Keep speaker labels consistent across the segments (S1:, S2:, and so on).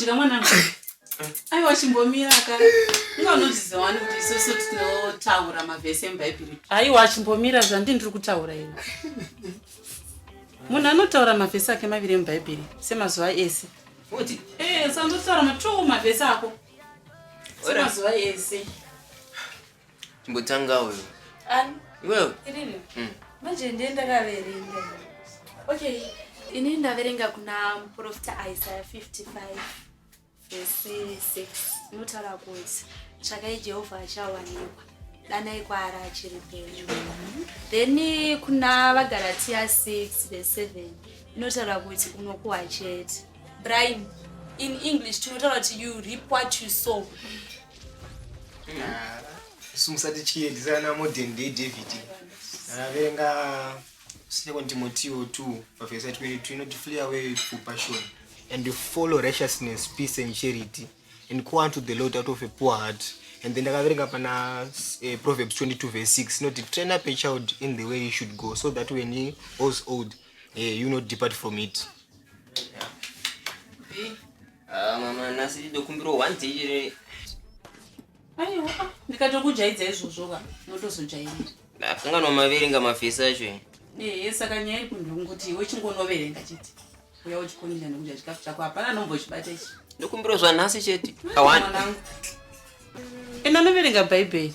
S1: kudya mwanangu aiwa chimbomira ka inga unodziziva wani kuti isusu tinotaura mavhesi emubhaibheri aiwa chimbomira zvandi ndiri kutaura ini munhu anotaura mavhesi ake maviri emubhaibheri semazuva ese Uti? Eh,
S2: usangotaura
S1: matoo mavhesi ako. Semazuva ese. Chimbotanga
S2: uyo. Ani? Iwewe?
S3: Irini. Mm. Manje ndiye ndakaverenga. Okay. Ini ndaverenga kuna muprofita Isaiah 55 verse 6. Unotaura kuti tsvakai Jehovah achawanikwa. Danai kwaari achiri pedyo. Then kuna vaGalatia 6 verse 7. Inotaura kuti unokuwa chete. Bribe. In English tinotaura kuti you reap what you sow.
S4: Ah, isu musati chiedzana modern day David. Ndaverenga ah, Second Timothy 2 verse 22 inoti flee away for passion and follow righteousness, peace and charity and go unto the Lord out of a poor heart. and then ndakaverenga pana uh, proverbs 22 verse 6 inoti train up a child in the way he should go so that when he was old hey, eh, you not depart from it yeah.
S2: hey. Ah, mama nhasi ndidokumbirwa one day here aiwa ah,
S1: ndikatokujaidza izvozvo ka notozojairira ndakanganwa
S2: maverenga mafesi acho ehe eh, saka nyaya
S1: iri kunhu kungoti iwe chingonoverenga chete uya uchikundira nekudya chikafu chako hapana anombochibata ichi ndokumbirwa zvanhasi
S2: chete awanangu enda anoverenga
S1: bhaibheri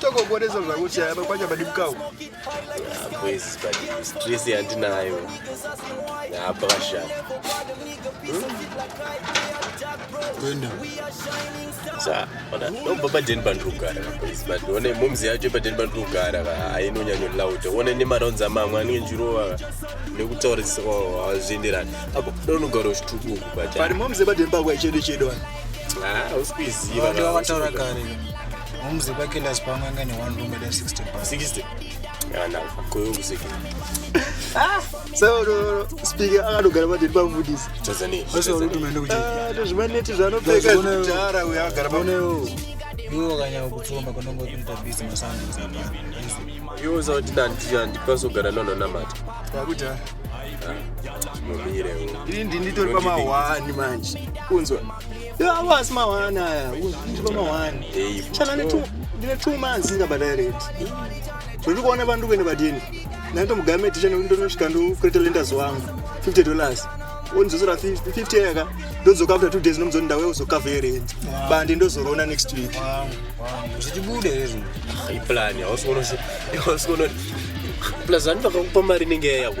S5: tokokoreso zvangu chaya pakwanya padibukau boys
S6: but stress yandinayo apa kashaya
S5: kuenda
S6: sa ona nobva padeni pandinogara boys but one momzi yacho padeni pandinogara ka ainonyanyo loud one nemaraunzi amamwe anenge njirova nekutaura hazvienderani apo donogara uchitukuku but pari momzi padeni pakwa
S5: chedu chedu wani ah,
S6: usikuiziva vataura
S5: kare Mumzi kwake ndazi pamwe anga ne one room eda 60 pa
S6: 60. Yana koyongu seki. Ah, so
S5: no speaker akadogara pa ndipo mvudisi. Tanzania. Wese uri
S6: kumenda kuti.
S5: Ah, ndozvimaneti zvanopfeka
S4: zvitara uya agara pa. Unewo.
S5: Iwo kanya kutsomba konongo kuita busy masandu zapa. Iwo
S6: zauti ndandi andikwaso gara nono namata. Takuti
S4: ah.
S6: Mumire. Ndindi
S4: nditori pa ma 1 manje. Kunzwa. Avo asi mahwani aya, ndipa mahwani. Chana ndine two months ndingabata rent. Zviri kuona vandu kuenda badini. Naito mugame ticha ndonosvika ndokureta lenders wangu 50 dollars. Onizosora 50 yaka ndodzoka after two days ndomuzoti ndawe uzokavhe rent. Bandi ndozorona next week. Zvichibude
S5: izvi. Iplan, hausi
S6: kuona hausi kuona. Plus vandu vakakupa mari inenge yako.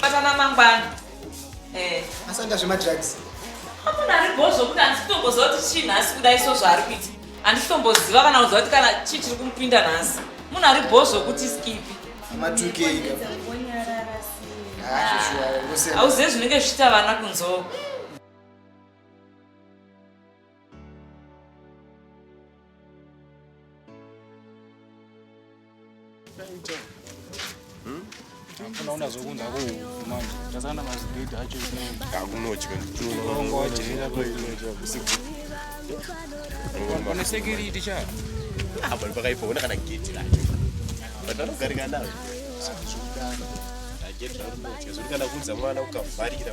S7: Patana mangwana.
S4: Eh. Asanda zvema drugs. Amuna ari
S7: bozvo kuti anditomboziva kuti chii nhasi kudai so zvaari kuita. Anditomboziva kana kuziva kuti kana chii chiri kumupinda nhasi. Munhu ari bozvo kuti skipi. Matukei ka. Hauzive zvinenge zvichita vana kunzoo.
S5: unaona zvokunza ku manje tasana mazigidi acho akunotya
S6: ndongo
S5: wajaira pane security cha apa
S6: pakaipa ona kana gate lacho patanogarika nayo zvakudana ndajetra unotya zviri kana kuudza mwana ukavharira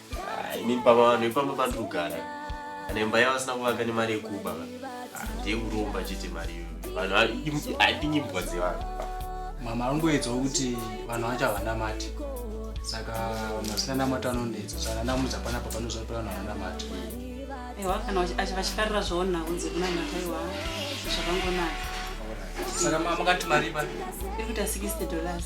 S6: Ah, ini pama vanhu ipamba pandiri kugara kana imba yavo asina kuvaka nemari yekuba ah, ndiye kuromba chete mari iyoyo vanhu vari- handinyi mbwa dzevanhu mama
S5: anongoedzawo kuti vanhu vacho havanamati saka vanhu vasina namata vanonetsa saka nanamudza panapa panoziva kuti vanhu havanamati aiwa
S1: kana vachi- achi- vachifarira zvaona kunze kunanaka aiwa zvakangonaka
S5: saka mama makati mari pano iri kuita
S1: 60 dollars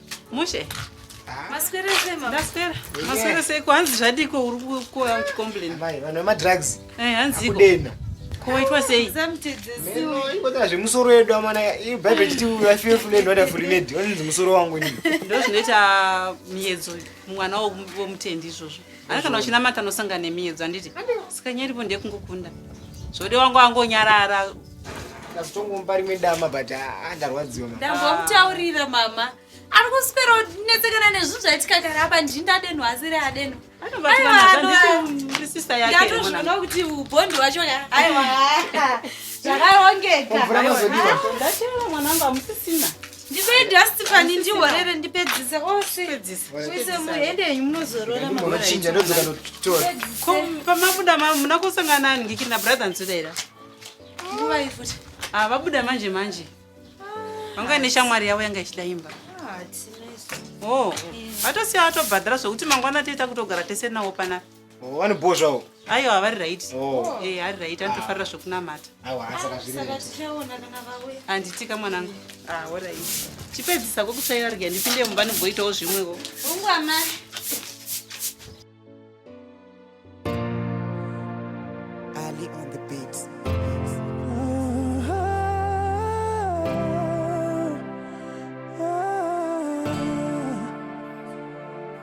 S4: mushe
S1: maswera sei mama ndaswera
S3: maswera sei ko hanzi
S1: zvadiko uri kuuya kucomplain mai vanhu vemadrugs
S4: eh hanzi kudena koitwa sei
S1: zamtedzesiwoibota
S4: zvemusoro yedu amana bible chiti i feel full and wonderful made onzi musoro wangu ini ndozvinoita
S1: miedzo mwana womutendi izvozvo Ana kana uchinamata anosangana nemiedzo anditi sikanya iripo ndekungokunda zvode wangu angonyarara ndazotongomba
S4: rimwe dama but ah, ndarwadziwa ndambomutaurira
S3: mama ari kuswera netsekana nezvinhu zvaitika kare apa ndii ndadenhu asiri adeno ndatozvinoona kuti ubhondi wacho aiwa zvakarongeka
S1: mwanangu amusisina Ndipe dust
S3: pani ndihorere ndipedzise ose. Muise muhende yenyu munozorora mama. Unochinja ndodzoka
S4: ndotora. Ko pamabuda
S1: ma muna kusangana nani ngikiri na brother Nzudera. Nguva
S3: ifuti. Ah vabuda manje
S1: manje. Vanga ine shamwari yavo yanga ichida imba. Ah, tinaiso. Oh. Atosiya atobhadhara zvokuti mangwana toita kutogara tese nawo panapa. Oh, vane bho zvavo
S4: ayo havari right
S1: Oh. Eh, hari right anotofarira zvekunamata awa asaka zviri Saka right. tichaona kana vauya. handitika mwanangu ah orit chipedzisa kokutsvaira rega ndipinde mumba ndimboitawo zvimwewo Hongu amai.
S8: Ali on the beats.